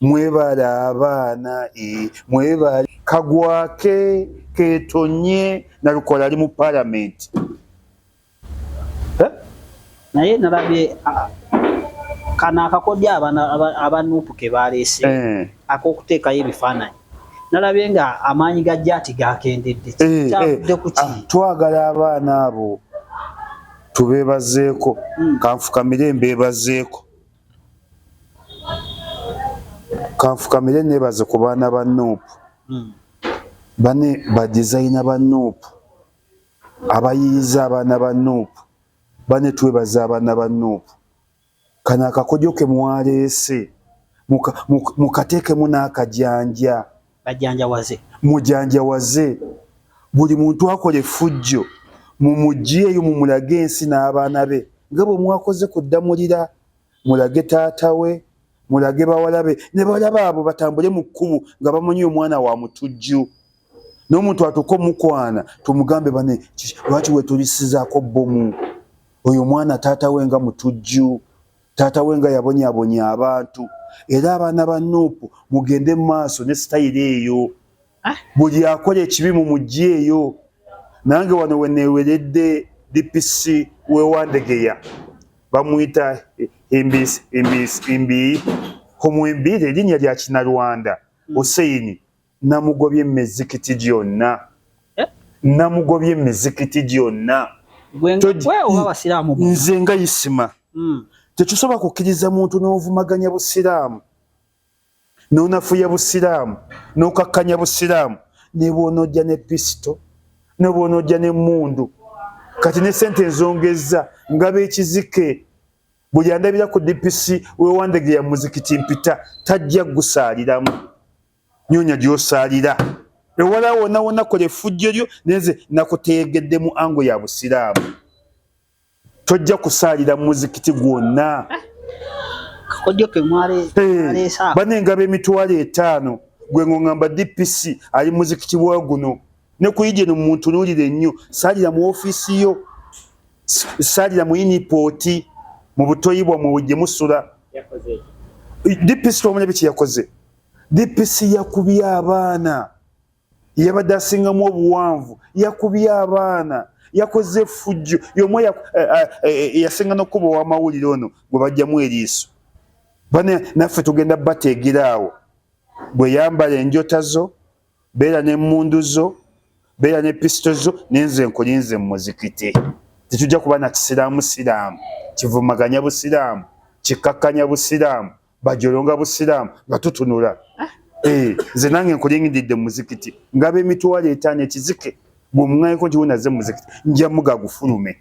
Mwebale abaana eh, mwebale. Kagwake ketonye nalukola ali mu parliament eh? naye nalabye kano akakodyo abanupu kebaleese eh. akokuteekayo ebifaananyi nalabye nga amaanyi ga jaati gakendedde eh, eh. kyavudde ku ki ah, twagala abaana abo tubeebazeeko hmm. kanfukamire mbeebazeeko kanfukamire nebaze ku baana ba nup hmm. bane badizayina ba nup abayiyiza abaana ba nup bane twebaza abaana ba nup kano akakojo ke mwaleese mukateekemu n'akajanja Bajanjawaze. Mujanjawaze. Buli muntu akola effujjo mumugyeeyo mumulage ensi n'abaana be nga bwe mwakoze ku Ddamulira. Mulage taata we, mulage bawala be ne bawala baabwe batambule mu kkubo nga bamanyi omwana wa mutujju. N'omuntu atuuka omukwana tumugambe bane lwaki wetulisizaako bbomu oyo omwana taata we nga mutujju. Taata we nga yabonyabonya abantu era abaana ba Nuupu mugende mu maaso ne sitayiro eyo, ah. buli akola ekibi mu mujji eyo. Nange wano we neeweredde DPC w'e Wandegeya bamuyita Imbi Humwimbi, lye linnya lya Kinyarwanda Hussein. namugobye mizikiti gyonna eh? namugobye mizikiti gyonna nze nga isima hmm. tekisobola kukkiriza muntu n'ovumaganya busiraamu nonafuya busiraamu nokakkanya busiraamu nebwonojja ne pisito nebwonojja nemundu kati ne sente enzongezza nga bekizike buli andabira ku dpc wewandegeya muzikiti mpita tajja gusaaliramu nyonya gyosalira ewala wona wona kola effujjo lyo neze nakutegedde mu ango ya busiraamu tojja kusaalira muzikiti gwonna bana engabo emitwalo etaano gwe ngongamba dpc ali muzikiti wa guno ne kuyije no muntu nulire nnyo saalira mu ofiisi yo saalira mu inipooti mu butoyibwa mu wujje musula dpc twamanya biki yakoze DPC yakubye abaana yabadde asingamu obuwanvu yakubye abaana yakoze efujjo yomu eh, eh, eh, yasinga nokuba owamawulire ono gwe bajjamu eriiso bane naffe tugenda bateegera awo bwe yambala enjota zo beera nemundu zo beera ne pisito zo nenze nkulinze mumuzikiti tetujja kuba na kisiraamu siraamu kivumaganya busiraamu kikakkanya busiraamu bajolonga busiraamu nga tutunula ah. eh, nze nange nkulingididde mumuzikiti ngaba emitwalo etaano ekizike gwemuŋayeko nti wenaze mumuzikiti nja muga gufulume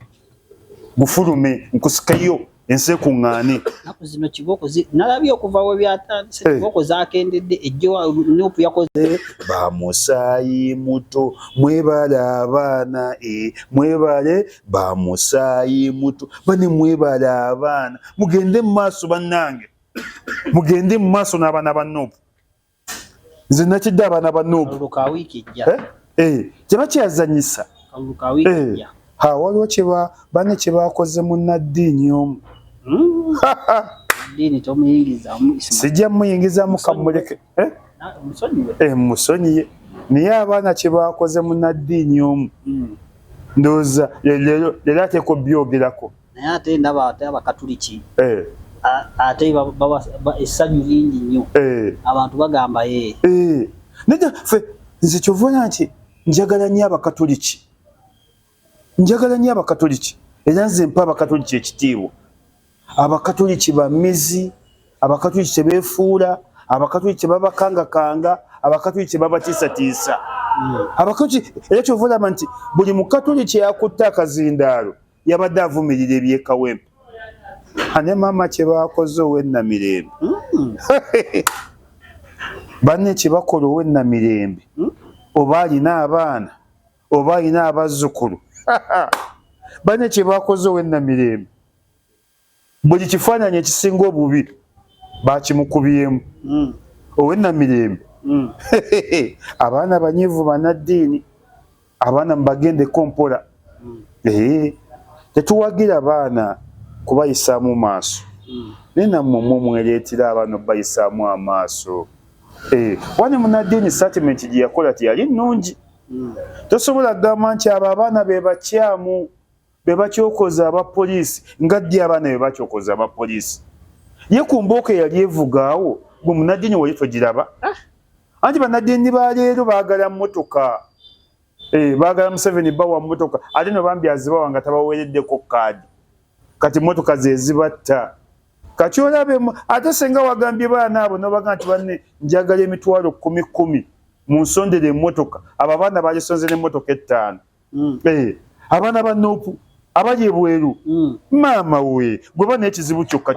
gufulume nkusikeyo ensi ekuŋŋaane naku zino kibooko nalabye okuva we byatandise eh. kibooko zakendedde ejjo nupu yakoze eh, bamusaayi muto mwebale abaana e mwebale ba musaayi muto bane mwebale abaana mugende mu maaso bannange mugende mu maaso n'abaana ba nuupu nze nakidde abaana ba nuupu eh? eh, kyeba kyeyazanyisa eh, ha waliwo kyeba bane kyebakoze munaddiini omu hmm? sijja muyingizamu kamuleke eh? eh, musonyiye naye abaana kyebakoze munaddiini omu hmm. ndowooza leero ateeka obyogerako naye ate ndaba ate abakatuliki eh. ate essanyu lingi nnyo abantu bagamba ye naye fe nze kyovona nti njagala nnyo abakatuliki Njagala nnyo Abakatoliki era nze mpa Abakatoliki ekitiibwa. Abakatoliki ba mizi, Abakatoliki tebeefuula, Abakatoliki tebabakangakanga, Abakatoliki tebabatiisatiisa. Abakatoliki era kyova olaba nti buli Mukatoliki eyakutte akazindaalo yabadde avumirira ebyekawempe. Ane maama kye baakoze ow'ennamirembe. Hmm. Banne kye bakola ow'ennamirembe hmm. oba alina abaana. oba alina abazzukulu bane kyebakoze owenamirembe buli kifaananyi ekisinga obubi bakimukubyemu hmm. owenamirembe hmm. abaana banyivu banaddiini abaana mubagendeko mpola hmm. tetuwagira baana kubayisaamu maaso naye nammwe mwe mwereetera abaana okubayisaamu amaaso wani munaddiini satimenti gye yakola teyali nnungi mm. tosobola kugamba nti abo abaana be bakyamu be bakyokoza aba poliisi nga ddi abaana be bakyokoza aba poliisi ye ku mbooko eyali evugaawo gwe munadini waye togiraba ah. anti banadini baleero baagala mmotoka eh, baagala museveni bawa mmotoka ate no bambi azibawa nga tabaweereddeko kaadi kati motoka zezibatta kati olabe ate senga wagambye baana abo nobaga nti banne njagala emitwalo kumi kumi munsondera emotoka abo abaana balisonzera emotoka ettaano mm. hey, eh, abaana ba nopu abali ebweru mm. maama we gwe bana ekizibu kyokka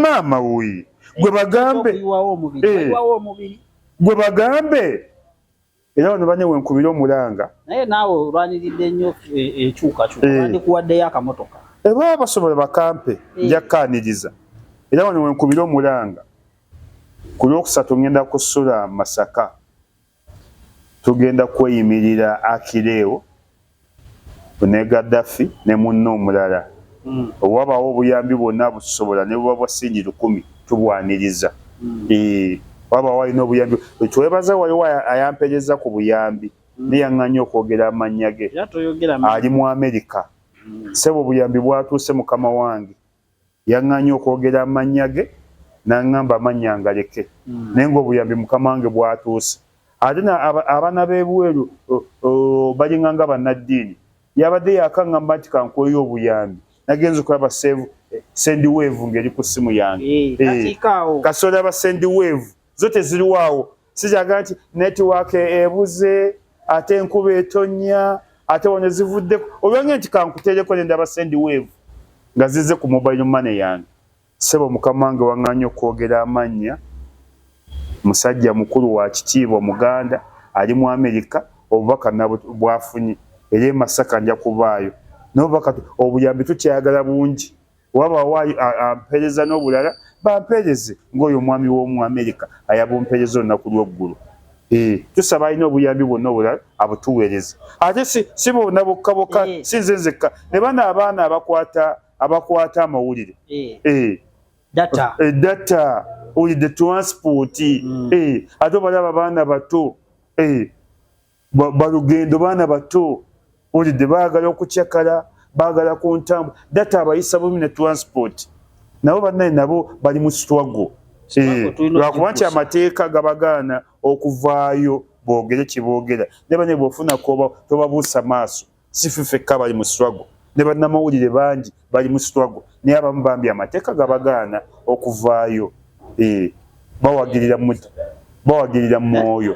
maama we gwe bagambe eh. gwe bagambe era bano bane wenkubira omulanga naye naawe olwaniridde nnyo ekyukakyuka eh, bandikuwaddeyo eh. akamotoka ebaba eh, basobola bakampe nja kkaaniriza era wano wenkubira omulanga ku lwokusatu ngenda kusula masaka tugenda kweyimirira akireewo ne Gaddafi ne munne omulala. Bwe wabaawo obuyambi bwonna abutusobola ne buba bwa ssingi lukumi tubwaniriza. Wabaawo alina obuyambi bwe twebaza waliwo ayamperezza ku buyambi naye yang'anyi okwogera amannya ge. Ali mu Amerika. Ssebo obuyambi bwatuuse mukama wange. Yaŋŋaanyi okwogera amannya ge, n'aŋŋamba amannya ngaleke, hmm. naye ng'obuyambi Mukama wange bwatuuse. Ate abaana b'ebweru balinga nga bannaddiini. Yabadde yakaŋŋamba nti kankweyo obuyambi, nagenze okulaba sendi weevu ng'eri ku ssimu yange. Eh, eh, Kasoola ba sendi weevu zo teziriwaawo sijaga nti network ebuze ate enkuba etonya ate wano zivudde olwange nti kankutereko ne ndaba sendi wave nga zize ku mobile money yange sebo mukama wange wang'anyi okwogera amannya musajja mukulu wa kitiibwa muganda ali mu amerika obubaka bwafunye era emasaka nja kubaayo nobubaka obuyambi tukyayagala bungi wabaawo ampeereza n'obulala bampeereze ng'oyo omwami w'omu amerika ayabumpeereza olunaku lw'eggulu eh, tusaba alina obuyambi bwonna obulala abutuweereze ate si bonna bokka bokka eh. si nze nzekka ne bano abaana abakwata abakwata amawulire eh. data olidde transport mm. ate obalaba baana bato balugendo baana bato olidde baagala okucakala baagala ku ntambu data abayisa bubi ne transport nabo bannaye nabo bali mu swago eh, lwakuba nti amateeka gabagaana okuvaayo boogere kye boogera ne bane bwofuna koba tobabuusa maaso sife fekka bali mu swago ne bannamawulire bangi bali mu swago naye abamu bambi amateeka gabagaana okuvaayo eh, bawagirira mu mwoyo